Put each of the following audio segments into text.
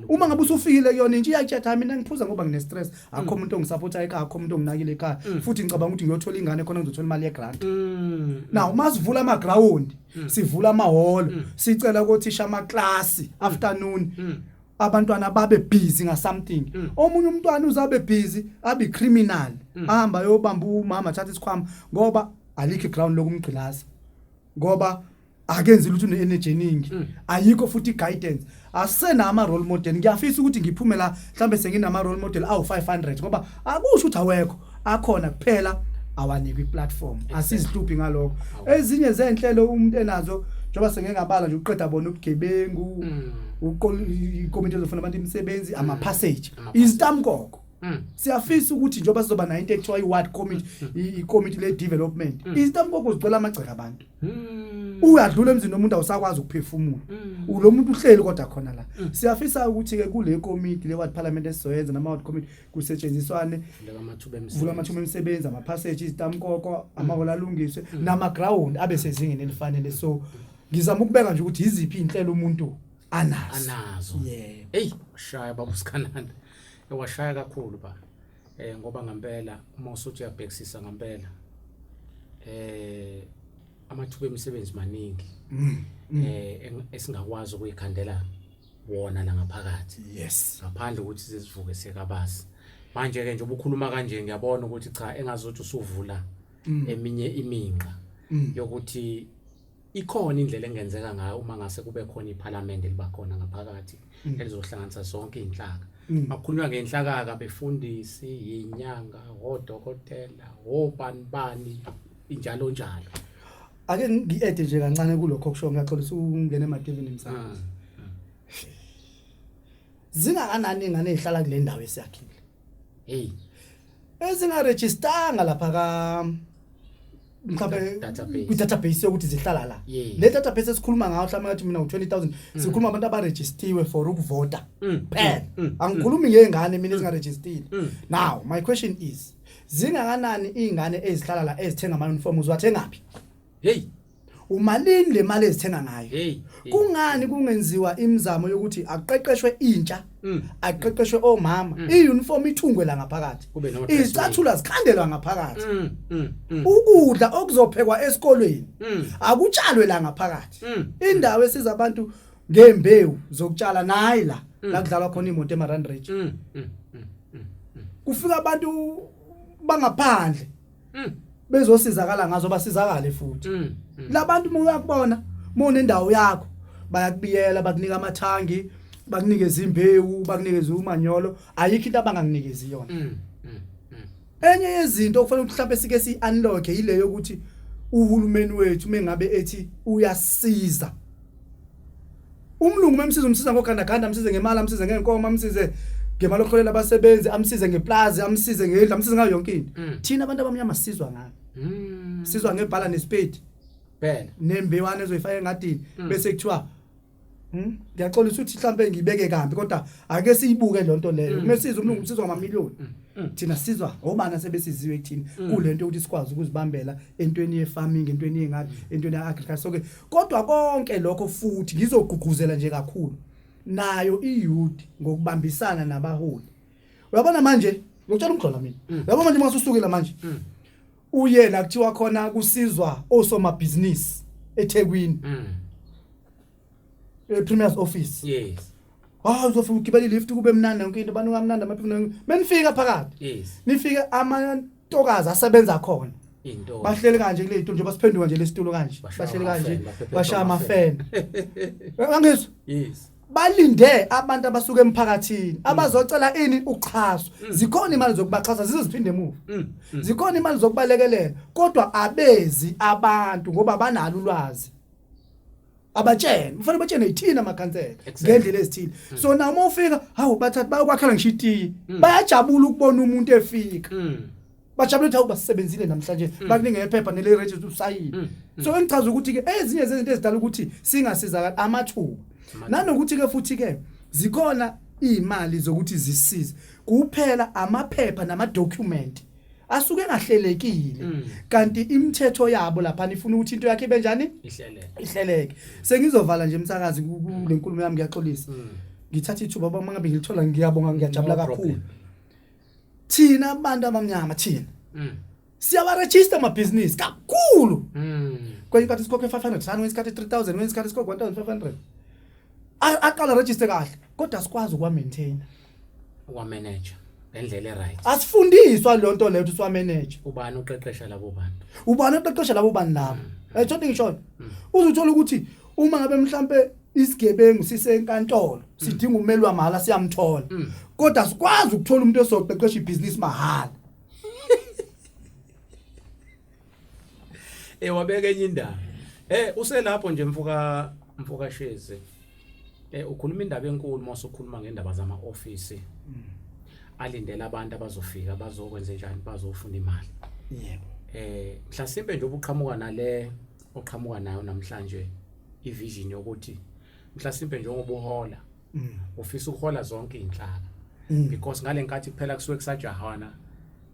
uma ngabe usufikile kuyona intsha iyatshatha mina ngiphuza ngoba ngine stress akho mm. umuntu ongisupporta ekhaya akho umuntu onginakile ekhaya mm. futhi ngicabanga ukuthi ngiyothola ingane khona ngizothola imali yegrant mm. now uma sivula ama ground sivula ama hall sicela ukuthi sha ama class afternoon abantwana babe busy nga something mm. omunye umntwana uzabe busy abi criminal mm. ahamba yobamba umama thatha isikhwama ngoba alikho ground lokumgqilaza ngoba akenzi lutho ne energy eningi mm. ayikho futhi guidance asena ama role model ngiyafisa ukuthi ngiphume la mhlambe senginama role model awu 500 ngoba akusho ukuthi awekho akhona kuphela awanikwe iplatform asizihlupi ngalokho ezinye zenhlelo umuntu enazo njengoba sengengabala nje uqeda bona ubugebengu mm. uqola ikomiti lofuna abantu imisebenzi ama mm. passage izitamkoko Mm. siyafisa ukuthi njengoba sizoba nayo into ekuthiwa i-ward committee mm. ikomiti le-development mm. izitamkoko zigcwela amagceka abantu uyadlula emzini omuntu awusakwazi ukuphefumula ulo muntu uhleli kodwa khona la siyafisa ukuthi-ke kule komiti le-ward parliament esizoyenza nama-ward committee kusetshenziswane vula amathuba emisebenzi amaphaseji izitamkoko amaholo alungiswe namagrawundi abe sezingeni elifanele so ngizama ukubeka nje ukuthi yiziphi iy'nhlelo umuntu anazo anazo yebo eyi shaya baba usikhananda ewashaya kakhulu ba eh ngoba ngempela uma usuthi uyabhekisisa ngempela eh amathuba emisebenzi maningi mm, mm. eh esingakwazi ukuyikhandela wona la ngaphakathi yes ngaphandle ukuthi sizivuke sekabasi manje ke nje ubukhuluma kanje ngiyabona ukuthi cha engazothi usuvula mm. eminye iminqa yokuthi ikhona indlela engenzeka ngayo uma ngase kube khona iphalamende libakhona ngaphakathi mm. elizohlanganisa zonke izinhlaka mm. makhulunywa ngenhlakaka befundisi yinyanga odokotela obani bani injalo njalo ake ngiede nje kancane kulokho kusho ngiyaxolisa ungene emadivini msakazi ah, ah. zingakanani ingane ezihlala kule ndawo esiyakhile hey ezingarejistanga lapha ka mhlawumbe Database. kwi-database yokuthi zihlala la Yes. le database esikhuluma ngayo mhlawumbe ngathi mina u-20000 sikhuluma abantu abarejistiwe for ukuvota Mm, phela mm, mm, angikhulumi ngey'ngane mina ezingarejistile Mm. now my question is zingakanani iy'ngane ezihlala la ezithenga ama-uniform uziwathengaphi hey Umalini le mali ezithenga ngayo? Hey, hey. Kungani kungenziwa imizamo yokuthi aqeqeshwe intsha, Mm. aqeqeshwe omama, i-uniform ithungwe la ngaphakathi. Kube nama dress Izicathula zikhandelwa ngaphakathi. Mm, mm, mm. Ukudla okuzophekwa esikolweni Mm. akutshalwe la ngaphakathi. Mm. Indawo esiza abantu ngembewu zokutshala nayi la la kudlalwa khona imoto eMaranridge. Mm, mm, mm. Kufika abantu bangaphandle Mm. Bezosizakala ngazo basizakale futhi. Mm. Mm. Labantu uma uyakubona mona indawo yakho bayakubiyela bakunika amathangi bakunikeza imbewu bakunikeza umanyolo ayikho into abangakunikezi yona. Mm. Mm. Mm. Enye yezinto okufanele mhlawumbe sike si unlock yileyo ukuthi uhulumeni wethu mengabe ethi uyasiza umlungu memsiza umsiza ngogandaganda amsize ngemali amsize ngeenkomo amsize ngemali okuholela abasebenzi amsize ngeplazi amsize ngendlu amsize ngayo yonke into Mm. thina abantu abamnyama sizwa ngani Mm. sizwa ngebhala nesipedi Bhela. nembewana ezoyifaka engadini Mm. bese kuthiwa "Hmm, ngiyaxolisa ukuthi mhlawumbe ngibeke kambi kodwa ake siyibuke le nto leyo Mm. uma sizwa umlungu sizwa ngamamiliyoni Mm. Mm. thina sizwa obani asebesiziwe kuthina Mm. kule nto yokuthi sikwazi ukuzibambela entweni ye-farming entweni yengadi entweni ya-agriculture so-ke Kodwa konke lokho futhi ngizogqugquzela nje kakhulu nayo iYouth ngokubambisana nabaholi. Uyabona manje, ngiyotshela umgxola mina. Mm. Yabo manje masusukile manje. Mm. Uye la kuthiwa khona kusizwa osomabhizinisi eThekwini. Mm. E Premier's office. Yes. Hawu uzofuna ugibele lift kube mnandi yonke into abantu kamnandi amaphimbo menifika phakathi. Yes. Nifika amantokazi asebenza khona. Into. Bahleli kanje kule into nje basiphenduka nje lesitulo kanje. Bahleli kanje bashaya amafeni. Angizwa? Yes. balinde abantu abasuka emphakathini mm. abazocela ini uxhaso mm. zikhona imali zokubaxhasa ziziphinde emuva mm. zikhona imali zokubalekelela kodwa abezi abantu ngoba banalo ulwazi abatshene kufanele batshene yithina amakhansela ngendlela ezithile hmm. so na uma ufika hawu bathatha bayokwakhela ngisho itiye hmm. bayajabula ukubona umuntu efika hmm. bajabule ukuthi hawu basebenzile namhlanje bakuninge ephepha nele register usayile so engichaza ukuthi ke ezinye zezinto ezidala ukuthi singasizakala amathuba nanokuthi ke futhi ke zikhona imali zokuthi zisize kuphela amaphepha nama document asuke engahlelekile mm. kanti imithetho yabo lapha nifuna ukuthi into yakhe benjani ihleleke ihleleke sengizovala nje umsakazi kulenkulumo yami ngiyaxolisa mm. ngithatha ithuba baba ngabe ngilithola ngiyabonga ngiyajabula kakhulu thina abantu abamnyama thina mm. siyawaregister amabhizinisi kakhulu kwenye isikhathi sikhokhe 500 sani kwenye isikhathi 3000 kwenye isikhathi sikhokhe 1500 aqala register kahle kodwa sikwazi ukuwa maintainer wa manager ngendlela eright asifundiswa lo nto leyo ukuthi wa manager ubani uqeqesha labo bantu ubani oqeqesha labo bantu labo Mm. ayithothi ngisho Mm. uzuthola ukuthi uma ngabe mhlambe isigebengu sisenkantolo sidinga umeli wamahhala siyamthola Mm. kodwa sikwazi ukuthola umuntu esoqeqesha ibhizinisi mahhala eh wabeka enye indaba eh uselapho nje mfoka mfoka Shezi eh ukhuluma indaba enkulu mase ukhuluma ngendaba zama office mm. alindele abantu abazofika bazokwenza njani bazofuna imali yebo eh mhlasimbe nje obuqhamuka nale oqhamuka nayo namhlanje ivision yokuthi mhlasimbe njengoba uhola mm. ufisa ukuhola zonke izinhlaka mm. because ngalenkathi kuphela kusuke kusajahana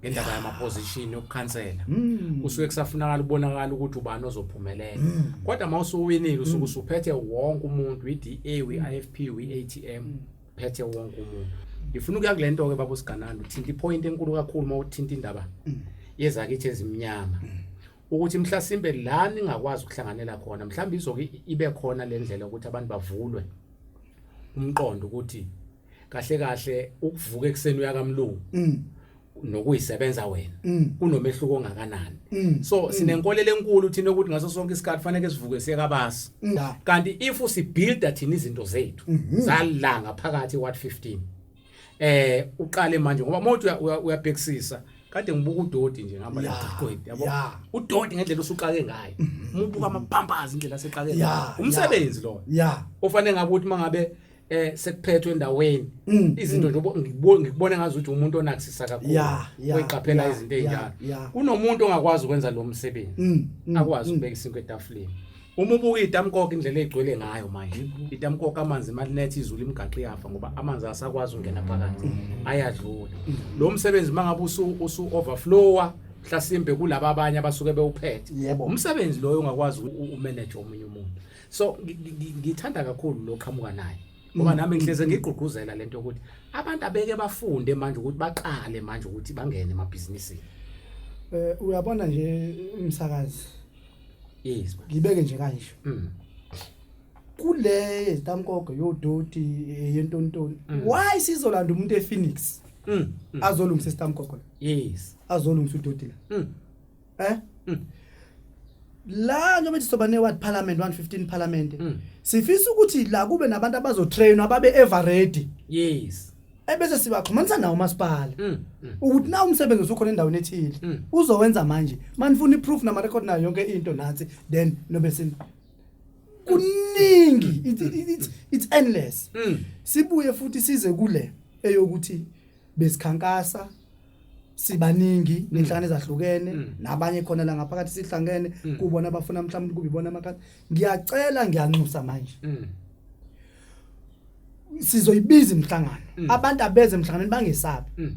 ngendaba yama position yokukhansela mm. kusuke kusafunakala ubonakala ukuthi ubani ozophumelela mm. kodwa mawusuwinile usuke mm. usuphethe wonke umuntu iDA weIFP weATM mm. phethe wonke umuntu ngifuna ukuya kulento ke babo sigananda uthinta ipoint enkulu kakhulu mawuthinta indaba mm. yezakithi ezimnyama mm. ukuthi mhlasimbe la ningakwazi ukuhlanganela khona mhlawumbe izoke ibe khona lendlela ukuthi abantu bavulwe umqondo ukuthi kahle kahle ukuvuka ekseni uyakamlungu mm. nokuyisebenza wena mm. kunomehluko ongakanani mm. so mm. sinenkolelo enkulu thina ukuthi ngaso sonke isikhathi kufanele sivuke siye kabasi mm. kanti if usibuilda thina izinto zethu mm -hmm. zalanga phakathi what 15 eh uqale manje ngoba mothi uyabhekisisa kade ngibuka udoti nje ngihamba la qhwedi yabo udoti ngendlela usuqake ngayo mhm. umubuka amapampazi indlela seqake ngayo umsebenzi lo ofanele ngabe ukuthi mangabe eh sekuphethwe endaweni mm, izinto mm. nje ngikubone ngazi ukuthi umuntu onakusisa kakhulu oyiqaphela izinto ezinjalo kunomuntu ongakwazi ukwenza lo msebenzi mm, akwazi ukubeka isinto etafuleni Uma ubuka itamkoko indlela egcwele ngayo manje itamkoko amanzi malinethe izulu imigaqo iyafa ngoba amanzi asakwazi ungena phakathi ayadlula lo msebenzi mangabe usu usu overflower mhlasimbe kulaba abanye abasuke bewuphethe Yebo. umsebenzi loyo ungakwazi u- umanage omunye umuntu so ngi- ngi- ngi- ngithanda kakhulu lo qhamuka naye ngoba nami ngihleze ngigqugquzela lento yokuthi abantu abeke bafunde manje ukuthi baqale manje ukuthi bangene emabhizinisini Eh uyabona nje umsakazi yes ngibeke nje kanje mm. kule tamkogo yodoti eh, yentontoni mm. why sizolanda umuntu ePhoenix mm. mm. azolungisa istamkogo yes azolungisa udoti la mm. eh mm. la njengoba sizoba ne ward parliament 115 parliament mm. sifisa ukuthi la kube nabantu abazotrainwa ababe ever ready yes ebese sibaxhumanisa nawo umasipala mm, mm. ukuthi na umsebenzi usukhona endaweni ethile mm. uzowenza manje manifuna iproof nama record nayo yonke into nansi then nobe sin kuningi it's, it's, it's endless mm. sibuye futhi size kule eyokuthi besikhankasa sibaningi mm. nenhlangano ezahlukene mm. nabanye khona la ngaphakathi sihlangene mm. kubona abafuna mhlawumbe kube ibona amakhasi ngiyacela ngiyanxusa manje sizoyibiza imhlangano mm. abantu abeze emhlanganweni bangesabi mm.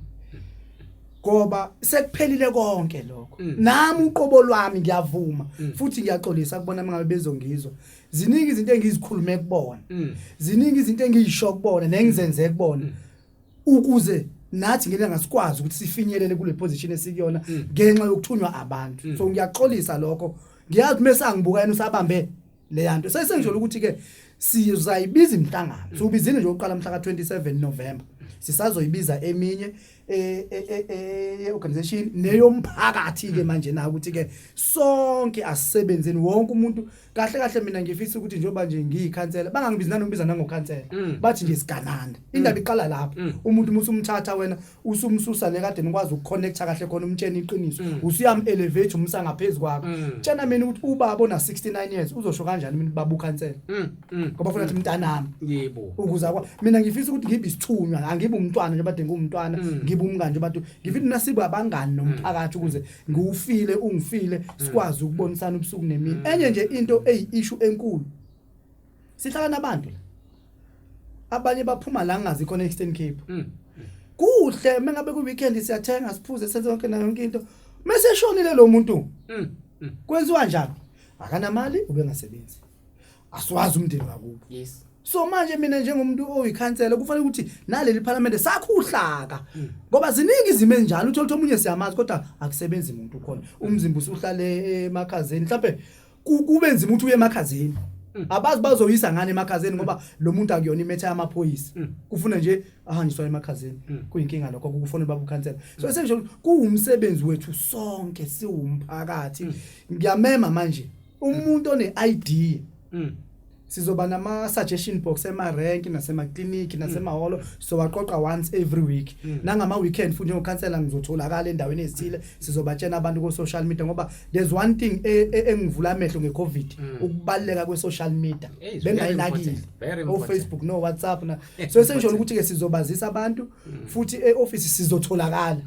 ngoba sekuphelile konke lokho mm. nami uqobo lwami ngiyavuma mm. futhi ngiyaxolisa kubona mangabe bezongizwa ziningi izinto engizikhulume kubona mm. ziningi izinto engiyisho kubona nengizenze kubona mm. ukuze nathi ngeke ngasikwazi ukuthi sifinyelele kule position esikuyona mm. ngenxa yokuthunywa abantu mm. so ngiyaxolisa lokho ngiyazi mesa ngibuka yena usabambe leyanto sesenjolo ukuthi ke sizayibiza imhlangano so ubizile nje oqala mhla ka27 November sisazoyibiza eminye e, e, e, e organization neyomphakathi ke manje na ukuthi ke sonke asisebenzeni wonke umuntu kahle kahle mina ngifisa ukuthi njengoba nje ngiyikhansela bangangibizi nanokubiza nangokhansela mm. bathi nje sigananda mm. indaba iqala lapho mm. umuntu musu umthatha wena usumsusa le kade nikwazi ukuconnecta kahle khona umtsheni iqiniso mm. usuyam elevate umsa ngaphezulu kwakho mm. tshena mina ukuthi ubaba ona 69 years uzosho kanjani mina baba ukhansela mm, ngoba funa ukuthi mntanami yebo ukuza kwa mina ngifisa ukuthi ngibe isithunywa angibe umntwana nje bade ngumntwana ngibe umngane nje bade ngifuna nasibe abangani nomphakathi ukuze ngiwufile ungifile sikwazi ukubonisana ubusuku nemini enye nje into eyi issue enkulu sihlala nabantu la abanye baphuma la ngazi khona eastern cape mm. kuhle uma ngabe ku-weekend siyathenga siphuze senze yonke nayo yonke into uma seshonile lo muntu mm. mm. kwenziwa njalo akanamali ubengasebenzi asiwazi umndeni wakubo yes so manje mina njengomuntu oyikhansela kufanele ukuthi naleli parliament sakhuhlaka hmm. ngoba ziningi izimo ezinjalo uthola ukuthi omunye siyamazi kodwa akusebenzi umuntu khona umzimba usuhlale emakhazeni mhlawumbe Ku- kube nzima ukuthi uye emakhazeni Mm. abazi bazoyisa ngani emakhazeni ngoba lo muntu akuyona imetha yamaphoyisa Mm. kufuna nje ahanjiswa emakhazeni Mm. kuyinkinga lokho kufuna baba ukhansela so esengisho ukuthi kuwumsebenzi wethu sonke siwumphakathi Mm. ngiyamema manje umuntu one-idea Mm. sizoba nama suggestion box ema rank nasema clinic nasema mm. holo so waqoqa once every week mm. nangama weekend futhi njengo counselor ngizotholakala endaweni ezithile sizobatshena abantu ko social media ngoba there's one thing e, e, engivula amehlo nge covid mm. ukubaleka kwe social media bengayinakile o Facebook no WhatsApp na so esenjolo ukuthi ke sizobazisa abantu futhi e office sizotholakala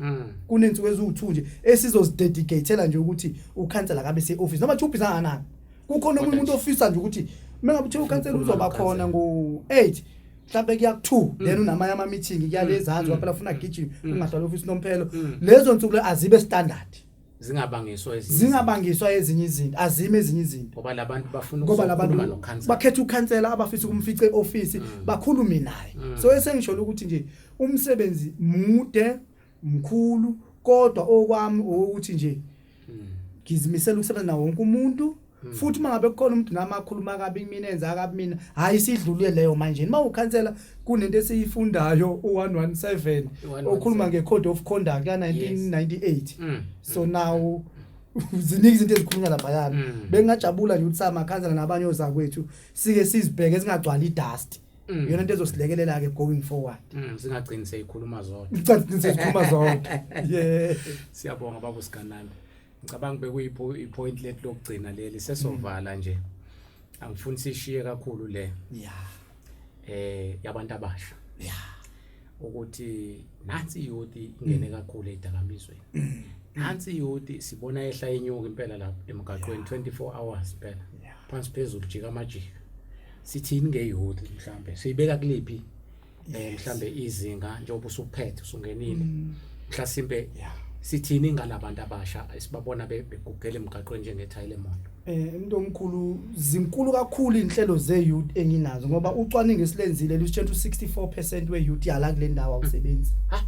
kunensuku eziwu2 nje esizozidedicatela nje ukuthi u counselor kabe se office noma chuphi sanganani kukhona omunye umuntu ofisa nje ukuthi uma ngabe uthiwa ukhansela uzoba khona ngo-eight mhlawumbe kuyaku-two mm. then unamanye ama-meeting kuyalezanzi mm. kwaphela funa gijima mm. ungahlala ofisi nomphelo lezo nsuku le azibe standard zingabangiswa ezinye zingabangiswa ezinye izinto azime ezinye izinto ngoba labantu bafuna ngoba labantu bakhetha ukhansela abafisa ukumfica eoffice bakhulume naye so esengisholo ukuthi nje umsebenzi mude mkhulu kodwa okwami ukuthi nje hmm. ngizimisela ukusebenza nawo wonke umuntu Hmm. futhi uma ngabe kukhona umuntu nami akhuluma kabi kumina enza kabi mina hhayi sidlulile leyo manje uma ukhansela kunento esiyifundayo u-117 okhuluma nge-code of conduct ka-1998 hmm. so now ziningi izinto ezikhulunywa laphayana hmm. bengingajabula nje ukuthi samakhansela nabanye ozakwethu sike sizibheke zingagcwali idasti Mm. Yona into ezosilekelela ke going forward. Mm, singagcini seyikhuluma zodwa. Singagcini seyikhuluma zodwa. Yeah. Siyabonga babu sigananda. Ngicabanga bekuyipo ipoint let lokugcina leli sesovala mm. nje. Angifuni sishiye kakhulu le. Yeah. Eh yabantu abasha. Yeah. ukuthi nansi youth ingene kakhulu edakamizweni nansi youth sibona ehla inyuka impela lapha emgaqweni 24 hours phela phansi phezulu jika amajika sithini ngeyouth mhlambe siyibeka kuliphi eh mhlambe izinga njengoba usuphethe usungenile mm. mhlasimbe sithini ngalabantu abasha esibabona begugela emgaqweni njengethayi lemoto Eh umuntu omkhulu zinkulu kakhulu inhlelo ze youth enginazo ngoba ucwaningo esilenzile lusitshentsha u64% we youth yala kule ndawo awusebenzi. Ha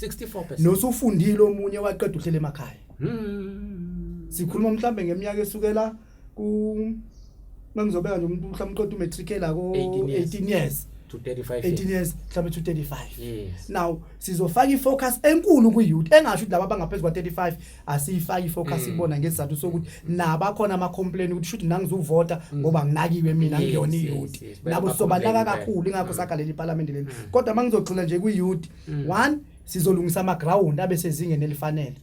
64%. Nosufundile omunye waqeda uhlele emakhaya. Hmm. Sikhuluma mhlambe ngeminyaka esukela ku mangizobeka nje umuntu mhlambe uqoda umatric la ko 18 years. to 35 18 years mhlawumbe to 35 yes now sizofaka ifocus enkulu kwi youth engasho ukuthi laba bangaphezulu kwa 35 asiyifaki ifocus mm. ibona ngesizathu sokuthi nabakhona ama complain ukuthi shuthi nangizuvota mm. ngoba nginakiwe mina ngiyona iyouth nabo sobanaka kakhulu ingakho mm. sakha leli parliament leli kodwa mangizogxila nje kwi youth one sizolungisa ama ground abe sezingeni elifanele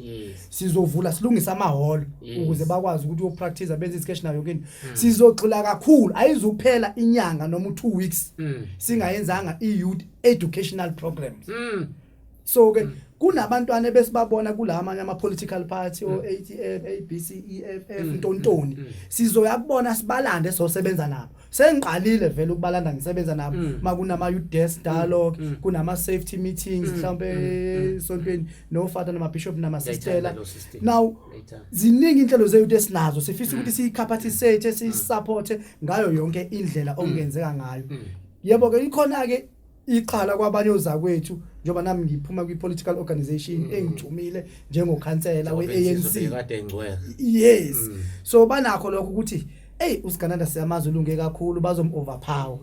sizovula silungisa ama hall ukuze bakwazi ukuthi uyopractice benze isketch nayo kini sizogxila kakhulu ayizuphela inyanga noma u2 weeks singayenzanga i youth educational programs so ke kunabantwana besibabona kulamanye ama political party o ATF ABC EFF ntontoni sizoya kubona sibalande sosebenza nabo sengiqalile vele ukubalanda ngisebenza nabo makunama youth desk dialogue kunama safety meetings mhlawumbe sontweni no father nama bishop nama sistela now ziningi inhlelo ze youth esinazo sifisa ukuthi siyikhaphathisate sisupporte ngayo yonke indlela okungenzeka ngayo yebo ke ikhona ke iqala kwabanye ozakwethu njengoba nami ngiphuma kwi-political organization mm. engijumile njengokhansela we-anc yes mm. so banakho lokho ukuthi eyi usigananda siyamazi ulunge kakhulu bazom-overpower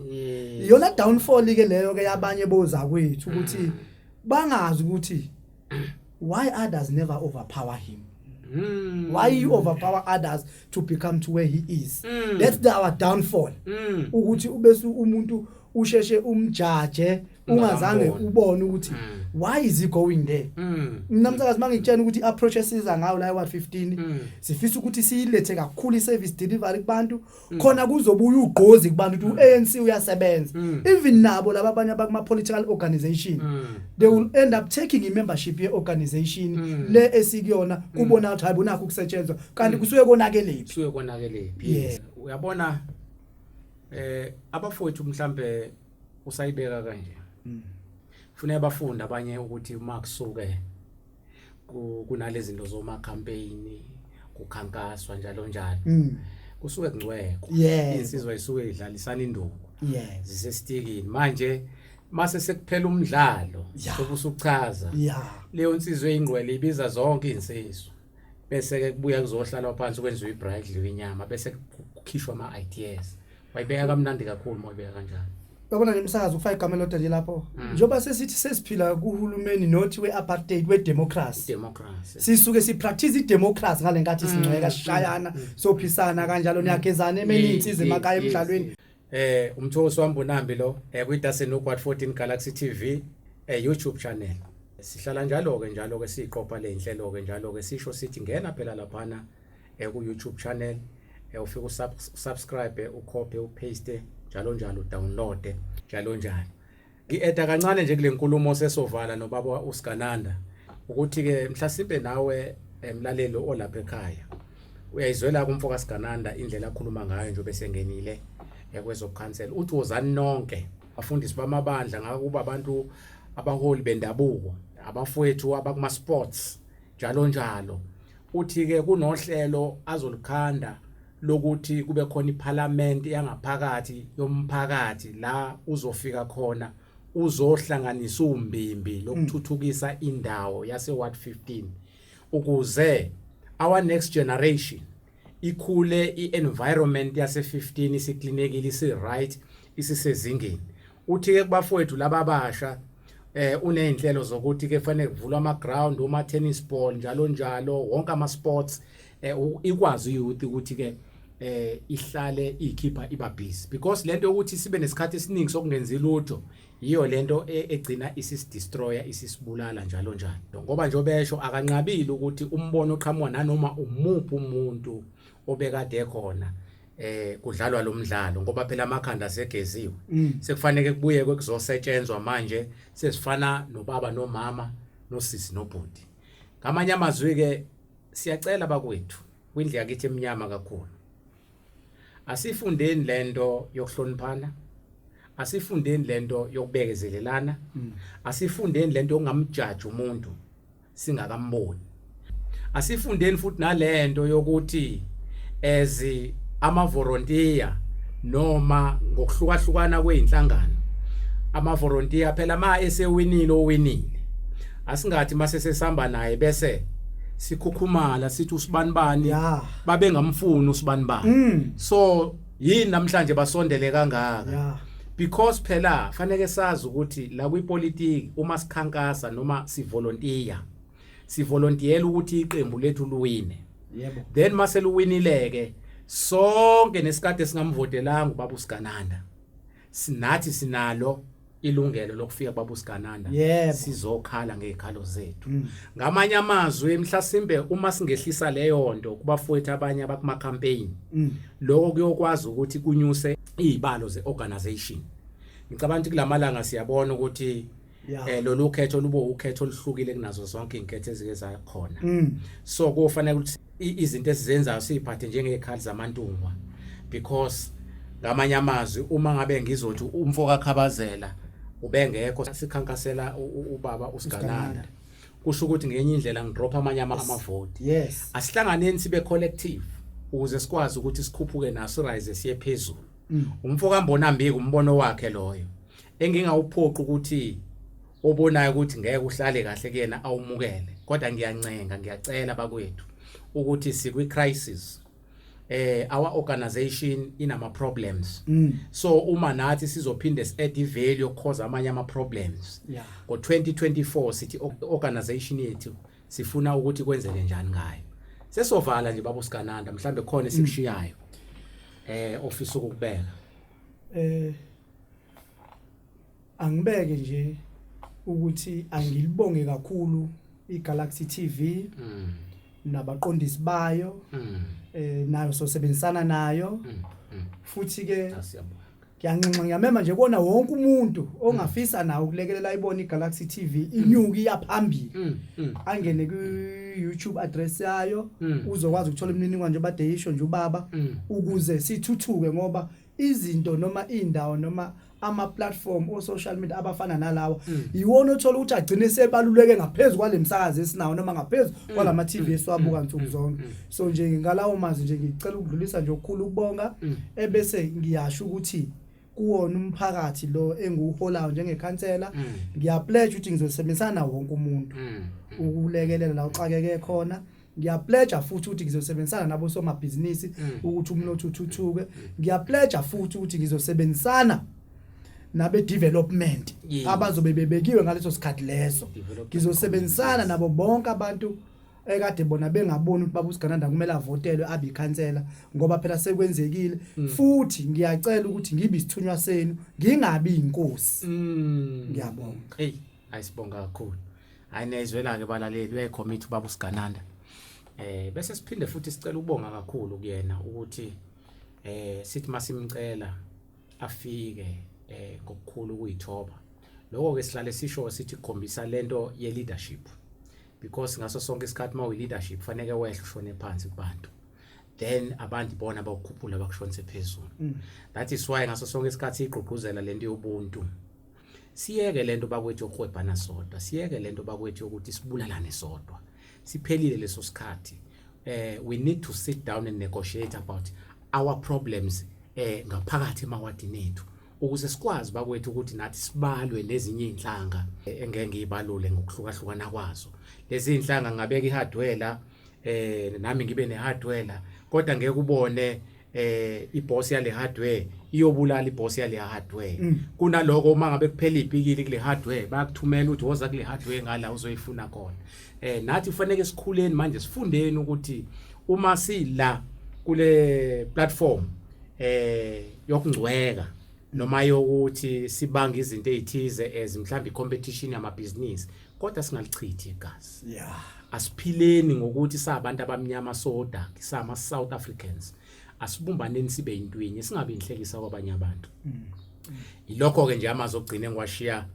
iyona downfall-ke leyo-ke yabanye bozakwethu ukuthi mm. bangazi ukuthi why others never overpower him Mm. why you overpower others to become to where he is Mm. that's the, our downfall Mm. ukuthi ubese umuntu usheshe umjaje ungazange Ungamboni. ubone ukuthi Mm. why is he going there Mm. mina msakazi mangitshena ukuthi i-approach esiza ngayo la wa-15 Mm. sifisa ukuthi siyilethe kakhulu i-service delivery kubantu Mm. khona kuzobuya ugqozi kubantu ukuthi mm. uANC uyasebenza mm. even nabo laba abanye abakuma political organization they will end up taking imembership ye organization le esikuyona kubona ukuthi hayi bonakho ukusetshenzwa kanti kusuke konakelephi kusuke konakelephi uyabona eh abafowethu mhlambe usayibeka kanje kufanele bafunde abanye ukuthi uma kusuke kunalezinto zoma campaign kukhankaswa njalo njalo mm. kusuke kungcweko insizwa isuke idlalisana induku zisesitikini manje mase sekuphela umdlalo sokusuchaza leyo nsizwa eyingqwele ibiza zonke insizwa bese ke kubuya kuzohlalwa phansi kwenziwa ibridal inyama bese kukhishwa ama ideas wayibeka kamnandi kakhulu uma uyibeka kanjalo yabona nemsakazo kufaka igama elodwa nje lapho mm. njengoba sesithi sesiphila kuhulumeni not we-apartheid we-democracy sisuke sipractice i-democracy ngale nkathi mm. sincweka sishayana mm. sophisana kanjalo niyagezana emeni iy'nsiza emakhaya emdlalweni eh umthosi wami bonambi lo eh kwiDasen Nokwat 14 Galaxy TV eh YouTube channel sihlala njalo ke njalo ke siqopha le inhlelo ke njalo ke sisho sithi ngena phela laphana eh, ku YouTube channel eh, ufike usubscribe ucopy upaste njalo njalo download njalo njalo ngi-eda kancane nje kule nkulumo sesovala nobaba usigananda ukuthi-ke mhlasimpe nawe emlaleli eh, olapha ekhaya uyayizwela kumfo kasigananda indlela akhuluma ngayo nje besengenile ekwezokukhansela eh, uthi wozani nonke bafundisi bamabandla ngakuba abantu abaholi bendabuko abafowethu abakuma-sports njalo njalo uthi ke kunohlelo azolikhanda lokuthi kube khona iphalamende yangaphakathi yomphakathi la uzofika khona uzohlanganisa umbimbi lokuthuthukisa indawo yase Ward 15 ukuze our next generation ikhule i-environment yase-15 isiklinekile isi-right isisezingeni Uthi ke kubafowethu laba abasha eh unezinhlelo zokuthi ke kufanele kuvulwe ama ground uma tennis ball njalo njalo wonke ama sports eh ikwazi youth ukuthi ke eh ihlale ikhipha iba busy because lento yokuthi sibe nesikhathi esiningi sokungenzi lutho yiyo lento e, egcina isis destroyer isisibulala njalo njalo ngoba nje obesho akanqabile ukuthi umbono oqhamuka nanoma umuphi umuntu obekade khona eh kudlalwa lo mdlalo ngoba phela amakhanda asegeziwe mm. sekufanele kubuye kwekuzosetshenzwa manje sesifana nobaba nomama nosisi nobhuti ngamanye amazwi ke siyacela bakwethu kwindlu yakithi eminyama kakhulu asifundeni lento yokuhloniphana asifundeni lento yokubekezelelana mm. asifundeni lento ongamjaji umuntu singakamboni asifundeni futhi nalento yokuthi as amavolontiya noma ngokuhlukahlukana kweinhlangano amavolontiya phela ma esewinile owinile asingathi mase sesihamba naye bese sikhukhumala sithi usibanibani babengamfuni usibanibani mm. so yini namhlanje basondele kangaka yeah. because phela faneke sazi ukuthi la kwipolitiki uma sikhankasa noma sivolontiya sivolontiyela ukuthi iqembu lethu luwine yebo then mase luwinileke sonke nesikade singamvotelanga ubaba usigananda sinathi sinalo ilungelo lokufika kwabusigananda Yebo. sizokhala ngezikhalo zethu Mm. ngamanye amazwi mhlasimbe uma singehlisa leyo nto kubafowethu abanye abakuma campaign Mm. lokho kuyokwazi ukuthi kunyuse izibalo zeorganization ngicabanga ukuthi kulamalanga siyabona ukuthi Yeah. eh lolu khetho lubo ukhetho oluhlukile kunazo zonke inketho ezike zakhona Mm. so kufanele ukuthi izinto esizenzayo siyiphathe njengezikhali zamantungwa because ngamanye amazwi uma ngabe ngizothi umfo kakhabazela ubengekho sikhankasela ubaba usigananda kusho ukuthi ngenye indlela ngidropha amanye amavoti yes asihlanganeni sibe collective ukuze sikwazi ukuthi sikhuphuke naso rise siye phezulu mm. umfo kambona mbiki umbono wakhe loyo engingawuphoqi ukuthi obonayo ukuthi ngeke uhlale kahle kuyena awumukele kodwa ngiyancenga ngiyacela bakwethu ukuthi sikwi crisis eh our organization inama problems mm. so uma nathi sizophinde add value cause amanye ama problems yeah. ngo 2024 sithi organization yethu sifuna ukuthi kwenzeke njani ngayo sesovala nje babu sikananda mhlambe khona mm. esikushiyayo eh ofisa ukubeka eh angibeke nje ukuthi angilibonge kakhulu iGalaxy TV mm. nabaqondisi bayo mm. eh nayo sosebenzisana nayo mm. Mm. futhi ke ah, ngiyanxenxa ngiyamema nje kona wonke umuntu ongafisa mm. nawo ukulekelela ibona iGalaxy TV mm. inyuki iyaphambili mm. mm. angene ku YouTube address yayo mm. uzokwazi ukuthola imininingwane nje badeyisho nje ubaba mm. ukuze sithuthuke ngoba izinto noma indawo noma ama platform o social media abafana nalawa mm. yiwona othola ukuthi agcine sebaluleke ngaphezulu kwalemsakazi esinawo noma ngaphezulu mm. kwalama TV mm. esiwabuka nsuku zonke so nje ngalawo mazi nje ngicela ukudlulisa nje ukukhulu ukubonga ebese ngiyasho ukuthi kuwona umphakathi lo engiwuholayo njengekhansela ngiyapledge ukuthi ngizosebenzisana wonke umuntu ukulekelela la uxakeke khona ngiyapledja futhi ukuthi ngizosebenzisana nabo somabhizinisi mm. ukuthi umnotho uthuthuke mm. ngiyapledja futhi ukuthi ngizosebenzisana nabe development abazobe bebekiwe ngaleso sikhathi leso ngizosebenzisana nabo bonke abantu ekade bona bengaboni ukuthi baba usigananda kumele avotelwe abe ikhansela ngoba phela sekwenzekile mm. futhi ngiyacela ukuthi ngibe isithunywa senu ngingabi inkosi ngiyabonga hey hayi sibonga kakhulu hayi niyayizwela-ke balaleli uyayikhommitha ubaba usigananda eh bese siphinde futhi sicela ukubonga kakhulu kuyena ukuthi eh sithi masimcela afike eh ngokukhulu kuyithoba lokho ke sihlale sisho sithi khombisa lento ye leadership because ngaso sonke isikhathi mawu leadership faneke wehle ushone phansi kubantu then abantu bona bakukhuphula bakushonise phezulu mm. that is why ngaso sonke isikhathi igqugquzela lento yobuntu Siyeke lento bakwethu yokuhwebhana sodwa, siyeke lento bakwethu yokuthi sibulalane sodwa. Siphelile leso sikhathi. Eh we need to sit down and negotiate about our problems eh ngaphakathi emawadini ethu ukuze sikwazi bakwethu ukuthi nathi sibalwe nezinye izinhlanga eh, engeke ngiyibalule ngokuhlukahlukana kwazo. Lezi inhlanga ngabeka ihardware eh nami ngibe nehardware kodwa ngeke ubone eh iboss yale hardware iyobulala iboss yale hardware mm. kunaloko uma ngabe kuphela ibhikili kule hardware bayakuthumela ukuthi woza kule hardware ngala uzoyifuna khona eh nathi kufanele sikhuleni manje sifundeni ukuthi uma sila kule platform eh yokungcweka noma yokuthi sibanga izinto ezithize as mhlawumbe competition yamabhizinisi kodwa singalichithi igazi yeah asiphileni ngokuthi sabantu abamnyama soda sama South Africans asibumbaneni sibe intwinye singabe inhlekisa kwabanye abantu mm. ilokho ke nje amazi ogcine ngiwashiya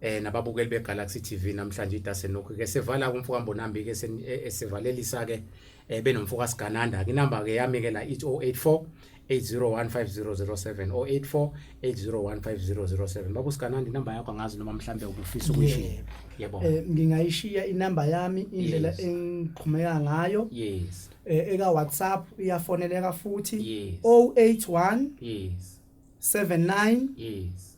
eh nababukeli beGalaxy TV namhlanje idase nokho ke sevala kumfuka Mbonambi ke e, esivalelisa ke eh, benomfuka sigananda inamba ke yami ke la 0884 8015007 or 848015007 baba usikanandi inamba yakho angazi noma mhlambe ubufisa ukuyishiya yebo eh ngingayishiya inamba yami indlela Yes. engiqhumeka ngayo yes eh, eka WhatsApp iyafoneleka futhi Yes. 081 yes 79 yes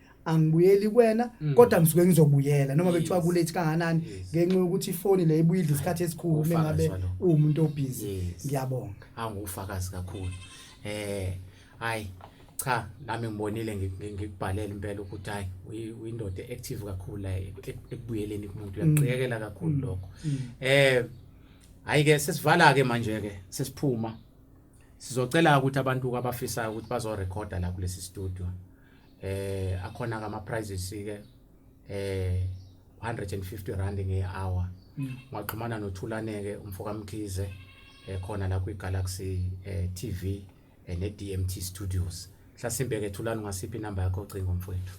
angibuyeli kwena mm. kodwa ngisuke ngizobuyela noma bekuthiwa kulethi kanganani ngenxa yokuthi ifoni le ibuyidla isikhathi esikhulu uma ngabe uwumuntu obhizi ngiyabonga angufakazi kakhulu eh hayi cha nami ngibonile ngikubhalela impela ukuthi hayi uyindoda active kakhulu la e-, ekubuyeleni kumuntu mm. uyaqhekela kakhulu mm. lokho eh hayi ke sesivala ke manje ke sesiphuma sizocela ukuthi abantu abafisayo ukuthi bazorecorda la kulesi studio eh akhona ke ama prices ke eh 150 rand ngehour mm. ngaxhumana nothulane ke umfoka Mkhize ekhona eh, la kwi Galaxy eh, TV eh, ne DMT Studios hlasimbe ke thulani ngasiphi number yakho cingo mfowethu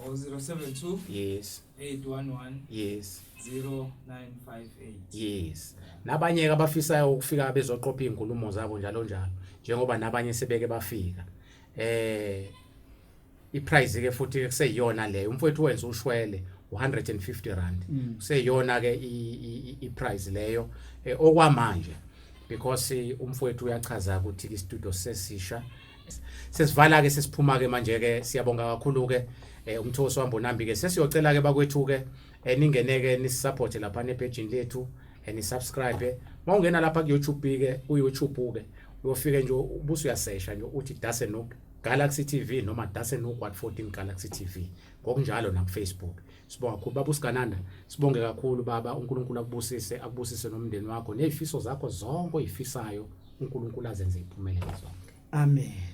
072 yes 811 yes 0958 yes nabanye ke abafisayo ukufika bezoqopha izinkulumo zabo njalo njalo njengoba nabanye sebeke bafika eh iprice ke futhi kuseyiyona leyo umfowethu wenza ushwele 150 rand mm. kuseyiyona ke iprice leyo eh, okwamanje because eh, umfowethu uyachaza ukuthi istudio sesisha sesivala ke sesiphuma ke manje ke siyabonga kakhulu ke eh, umthosi wambonambi ke sesiyocela ke bakwethu ke eh, ningeneke nisisupporte lapha nepejini lethu eh, nisubscribe uma ungena lapha kuyoutube ke uyoutube ke uyofike nje ubuso uyasesha nje uthi dase no Galaxy TV noma dase no Quad 14 Galaxy TV ngokunjalo na Facebook sibonga kakhulu baba usigananda sibonge kakhulu baba uNkulunkulu akubusise akubusise nomndeni wakho nezifiso zakho zonke oyifisayo uNkulunkulu azenze iphumelele zonke amen